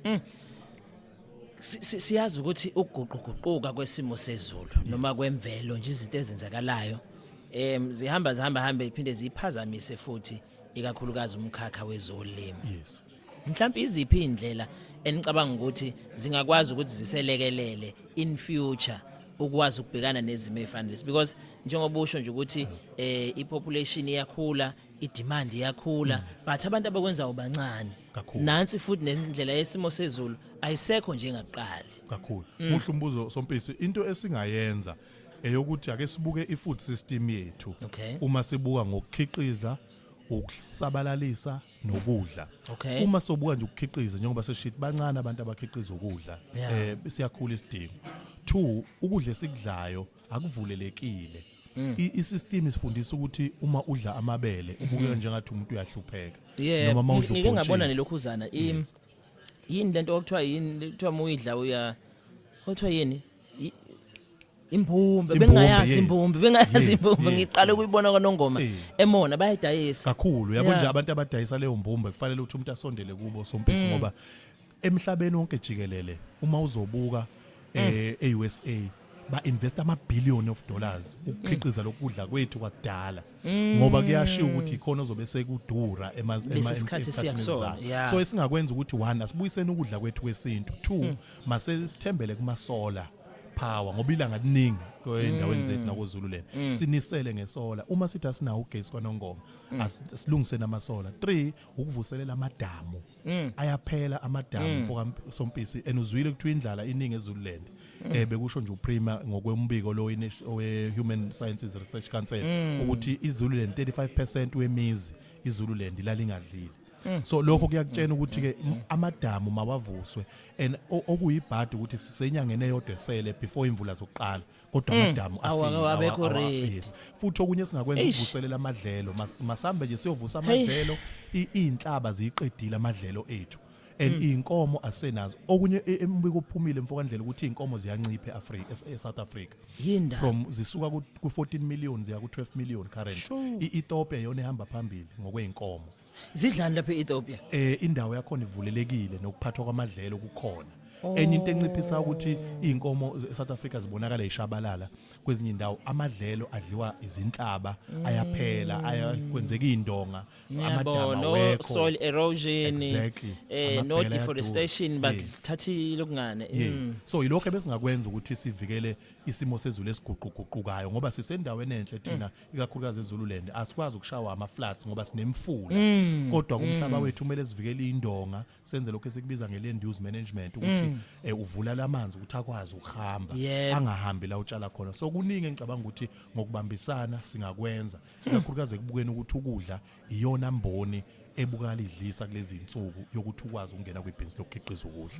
Mm. Siyazi ukuthi ukuguquguquka kwesimo sezulu noma kwemvelo nje izinto ezenzakalayo em zihamba zihamba hambe iphinde ziphazamise futhi ikakhulukazi umkhakha wezolimo. Yes. Mhlawumbe iziphi indlela enicabanga ukuthi zingakwazi ukuthi ziselekelele in future ukwazi ukubhekana nezimo ezifanele because njengoba usho nje ukuthi eh ipopulation iyakhula idemand iyakhula but abantu abakwenzayo bancane Kakhulu. nansi futhi nendlela yesimo sezulu ayisekho njengakuqali kakhulu muhle umbuzo sompisi into esingayenza eyokuthi ake sibuke i-food system yethu Okay. uma sibuka ngokukhiqiza ukusabalalisa nokudla Okay. uma sobuka nje ukukhiqiza njengoba seshithi bancane abantu abakhiqiza ukudla Yeah. eh siyakhula isidingo two ukudla esikudlayo akuvulelekile mm. isystem isifundisa ukuthi uma udla amabele mm-hmm. ubukeka njengathi umuntu uyahlupheka noma uma udla ngike ngabona nelokhuzana yini lento okuthiwa yini kuthiwa muyidla uya kuthiwa yini imbumbe bengayazi imbumbe bengayazi imbumbe ngiqale ukuyibona kwanongoma emona bayayidayisa kakhulu yabo nje abantu abadayisa leyo mbumbe kufanele ukuthi umuntu asondele kubo sompisi mm. ngoba Emhlabeni wonke jikelele uma uzobuka eh e-USA ba invest ama billion of dollars ukukhiqiza lokudla kwethu kwakudala ngoba kuyashiya ukuthi ikhona ozobe sekudura ema ema- Lesi sikhathi esikhathini siya kusona, esizayo. yeah. so esingakwenza ukuthi one asibuyiseni ukudla kwethu kwesintu two mase sithembele kuma solar power ngoba ilanga liningi endaweni zethu nakozulu lena sinisele ngesola uma sithi asinawo ugesi kwanongoma as- asilungiseni amasola three ukuvuselela amadamu Mm. ayaphela amadamu mm. mfoka sompisi and uzwile kuthiwa indlala iningi ezululand mm. eh bekusho nje uprima ngokwembiko lo we human sciences research council mm. ukuthi izululand 35% wemizi izululand ilalingadlile Mm. so lokho kuyakutshena mm. ukuthi ke mm. amadamu mawavuswe and okuyibhadi ukuthi sisenyangene yodwa esele before imvula zokuqala kodwa amadamu Mm. Awu, awu, abekho awa- awa- ready. yes. futhi okunye singakwenza Eish. ukuvuselela amadlelo Mas- masambe nje siyovusa Hey. amadlelo I- iy'nhlaba ziyiqedile amadlelo ethu and Mm. iy'nkomo asenazo okunye e- embiko ophumile mfokandlela ukuthi iy'nkomo ziyancipha e-Afri- es- e-south africa Yini ndaba? from zisuka ku- ku-14 million ziya ku-12 million current Sure. I- ethiopia yona ihamba phambili ngokwey'nkomo zidlani lapha e-ethiopia eh indawo yakhona ivulelekile nokuphathwa kwamadlelo kukhona Oh. enye into enciphisa ukuthi izinkomo eSouth Africa zibonakala ishabalala kwezinye indawo amadlelo adliwa izinhlaba Mm. ayaphela ayakwenzeka indonga amadama yabo no wekho soil erosion Exactly. eh Amabhele no ayaduka. deforestation Yes. bakuthathile okungane Yes. Mm. So yilokho ebesingakwenza ukuthi sivikele isimo sezulu esiguquguqukayo ngoba sisendaweni enhle thina ikakhulukazi eZululand asikwazi ukushawa ama floods ngoba sinemfula mm. kodwa kumhlaba mm. wethu kumele sivikele indonga senze lokho esikubiza nge land use management ukuthi mm. eh, uvula lamanzi ukuthi akwazi ukuhamba yeah. angahambi la utshala khona so kuningi engicabanga ukuthi ngokubambisana singakwenza hmm. ikakhulukazi ekubukeni ukuthi ukudla iyona mboni ebukala idlisa kulezi insuku yokuthi ukwazi ukungena kwibhizinisi lokukhiqiza ukudla